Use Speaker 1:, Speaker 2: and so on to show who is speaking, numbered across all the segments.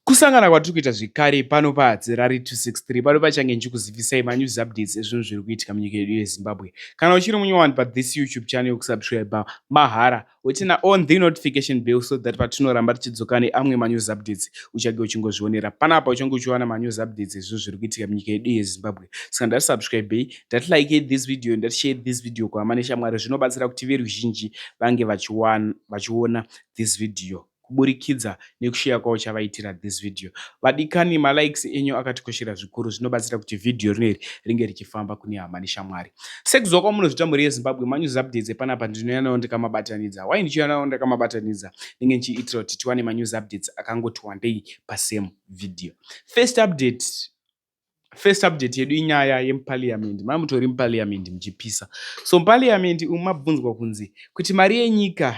Speaker 1: Kusangana kwatiri kuita zvekare pano paHadzi Rari 263 pano pachange ndichikuzivisai manews updates ezvinhu zviri kuitika munyika yedu yeZimbabwe. Kana uchiri munyowani pathis YouTube channel yokusubscriber mahara wotina on the notification bell so that patinoramba tichidzoka neamwe manews updates uchange uchingozvionera panapa uchange uchiwana manews updates ezvinhu zviri kuitika munyika yedu yeZimbabwe. Saka ndati subscribei, ndati like this video, ndati share this video kuhama neshamwari zvinobatsira kuti veruzhinji vange vachiona this video. kuburikidza nekushare kwauchavaitira this video. Vadikani ma likes enyu akatikoshera zvikuru zvinobatsira kuti video rino iri ringe richifamba kune hama neshamwari. Sekuziva kwamunozvita mhuri yeZimbabwe manews updates epanapa ndinouya nawo ndakamabatanidza. Why ndichiuya nawo ndakamabatanidza? Ndinge ndichiitira kuti tiwane manews updates akangoti wandei pasame video. First update first subject yedu inyaya yemupaliamendi mai mutori mupaliamendi muchipisa so mupaliamendi umu mabvunzwa kunzi kuti mari yenyika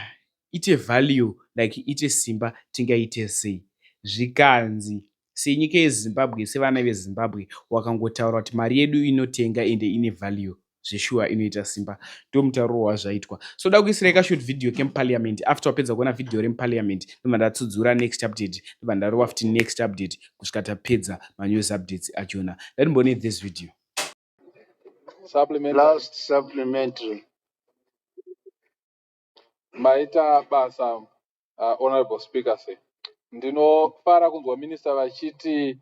Speaker 1: ite value like ite simba tingaite sei zvikanzi senyika yezimbabwe sevana vezimbabwe wakangotaura kuti mari yedu inotenga ende ine value zveshuwa inoita simba ndomutariro wazvaitwa so da kuisira ika short video kemuparliament after wapedza kuona video remuparliament ndobva ndatsudzura next update ndobva ndarova futi next update kusvika tapedza manews updates achona ndatimbone this video supplement.
Speaker 2: last supplementary maita basa uh, honorable speaker se ndinofara kunzwa minista vachiti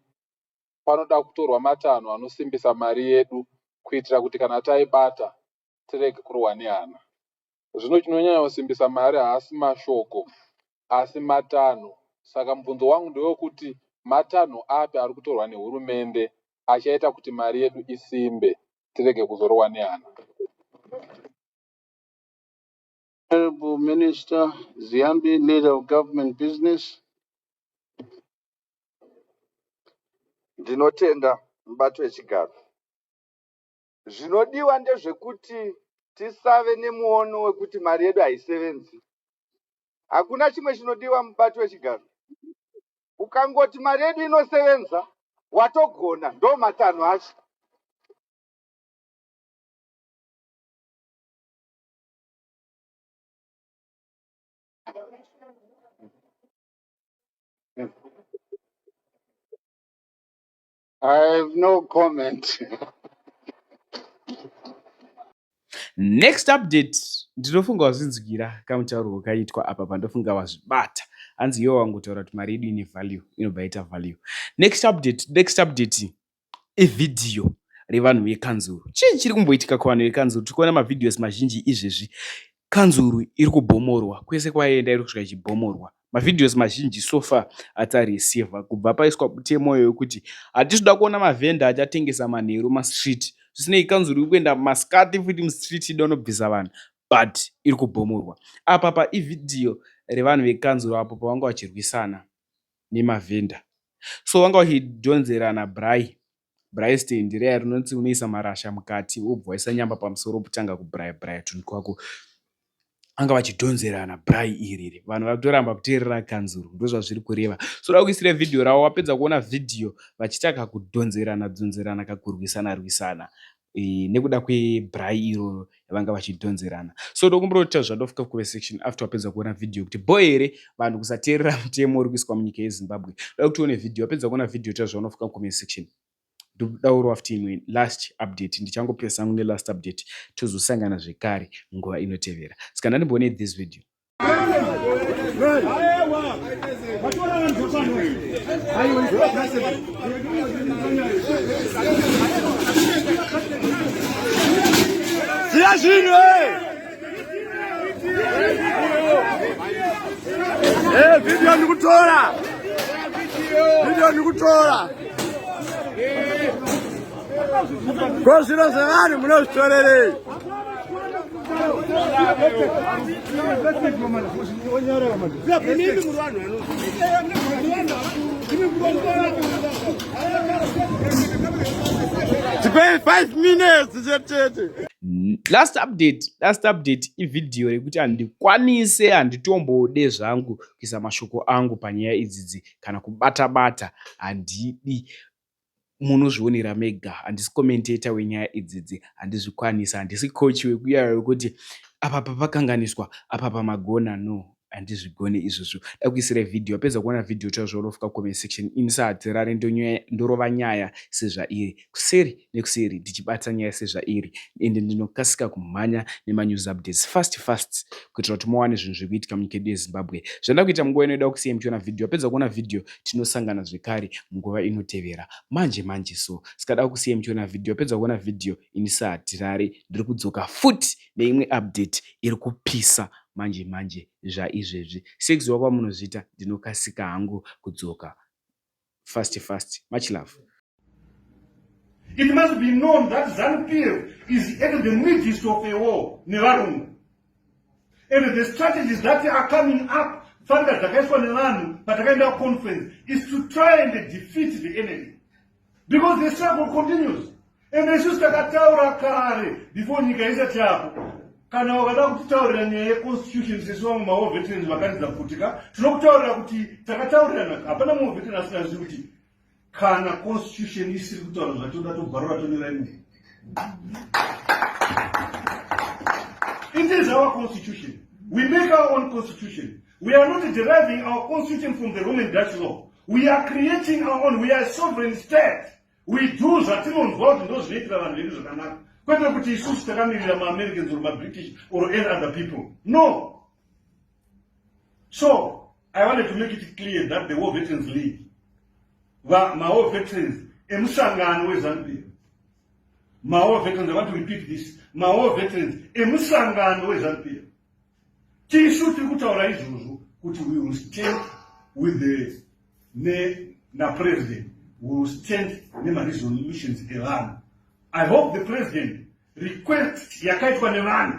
Speaker 2: panoda kutorwa matanho anosimbisa mari yedu kuitira kuti kana taibata tirege kurohwa nehana. Zvino chinonyanya kusimbisa mari haasi mashoko asi matanho. Saka mubvunzo wangu ndewekuti matanho api ari kutorwa nehurumende achaita kuti mari yedu isimbe tirege kuzorohwa nehana?
Speaker 3: Honorable Minister Ziambi, Leader of Government Business.
Speaker 4: Ndinotenda mubato wechigaro. Zvinodiwa ndezvekuti tisave nemuono wekuti mari yedu haisevenzi. Hakuna chimwe chinodiwa mubato wechigaro. Ukangoti mari yedu inosevenza, watogona, ndo matanho acho.
Speaker 3: I have no comment.
Speaker 1: next update ndinofunga wazvinzwira kamutauro wakaitwa apa pandofunga wazvibata hanzi iwo wangotaura kuti mari yedu ine value inobva yaita value next update next update evhidhiyo revanhu vekanzuru chii chiri kumboitika kuvanhu vekanzuru tiri kuona mavhidhios mazhinji izvezvi kanzuru iri kubhomorwa kwese kwaenda iri kusvika ichibhomorwa mavhidhios mazhinji sofa atarisivha kubva paiswa butemoyo yokuti hatisi kuda kuona mavhenda achatengesa manheru mastreet zvisinei kanzuru iri kuenda masikati futi mustreet ida unobvisa vanhu but iri kubhomorwa apa paivhidhiyo revanhu vekanzuru apo pavanga vachirwisana nemavhenda so wanga uchidhonzera nabry bry stand reya rinonzi unoisa marasha mukati wobva waisa nyamba pamusoro wobutanga kubraya braya tunhu twako vanga vachidhonzerana bry iriri vanhu vari kutoramba kuteerera kanzuru ndozvazviri kureva so da kuisira vhidhiyo ravo wapedza kuona vhidhiyo vachitaka kudhonzerana dhonzerana kakurwisana rwisana Eh, nekuda kwebrai iro yavanga vachidhonzerana so ndokumbira kuti tazvada ofika kuve section after wapedza kuona vhidhiyo yekuti bho here vanhu kusateerera mutemo uri kuiswa munyika yezimbabwe da kuti uone vhidhiyo wapedza kuona vhidhiyo tazvaona ofika kuve section ndodauro after imwe last update ndichangopresa angu nelast update tozosangana zvekare nguva inotevera ska ndandimboone this video
Speaker 4: Siya zvinhu Eh, video nikutora. Video nikutora. Ko zviro zvevanhu munozvitorerei? last
Speaker 1: update last update ivhidhiyo rekuti handikwanise handitombode zvangu kuisa mashoko angu panyaya idzidzi kana kubata bata handidi munozvionera mega handisi commentator wenyaya idzidzi handizvikwanisa handisi coach wekuyaya wekuti apa papakanganiswa apa pamagona no handizvigone izvozvo dakuisira vhidhiyo apedza kuona vhidhiyo taura zvaunofika comment section ini sahatirare ndorova nyaya sezvairi kuseri nekuseri ndichibata nyaya sezvairi ende ndinokasika kumhanya nemanews updates fast fast kuitira kuti muwane zvinhu zviri kuitika munyika yedu yezimbabwe zvandakuita munguva inoida kusiyai muchiona vhidhiyo apedza kuona vhidhiyo tinosangana zvekare munguva inotevera manje manje so ska dakusiya muchiona video pedza kuona video ini sahatirare ndiri kudzoka futi neimwe update iri kupisa manje manje zvaizvezvi sex wakwamunozviita ndinokasika hangu kudzoka fast fast much love
Speaker 5: It must be known that ZANU-PF is at the midst of a war nevarungu. And the strategies that are coming up, fanga dzakaiswa nevanhu patakaenda conference, is to try and defeat the enemy. Because the struggle continues. And isusu takataura kare before nyika isati yapo kana wakada kutitaurira nyaya yeconstitution sesu vamwe maoveterans vakanidza kuti ka tinokutaurira kuti takataurirana hapana muoveteran asina zvizi kuti kana constitution isiri kutaura zvatoda tobvarura tonera imwe it is our constitution we make our own constitution we are not deriving our constitution from the roman dutch law we are creating our own we are sovereign state we do zvatinonzwa kuti ndo zvinoitira vanhu vedu zvakanaka kwete kuti isusu takamirira maamericans or mabritish or any other people no So I wanted to make it clear that the War Veterans League, my war veterans, emusangano weZambia, my war veterans, I want to repeat this, my war veterans, emusangano weZambia, tisu tiri kutaura izvozvo kuti we will stand with the ne na president we will stand nemaresolutions evanhu i hope the president request yakaitwa nevanhu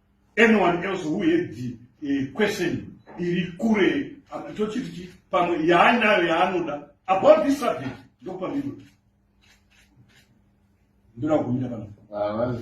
Speaker 5: anyone else who had the uh, question iri kure tochiti pamwe yaanayo yaanoda about this subject ndokupa miro ndoda kumira pano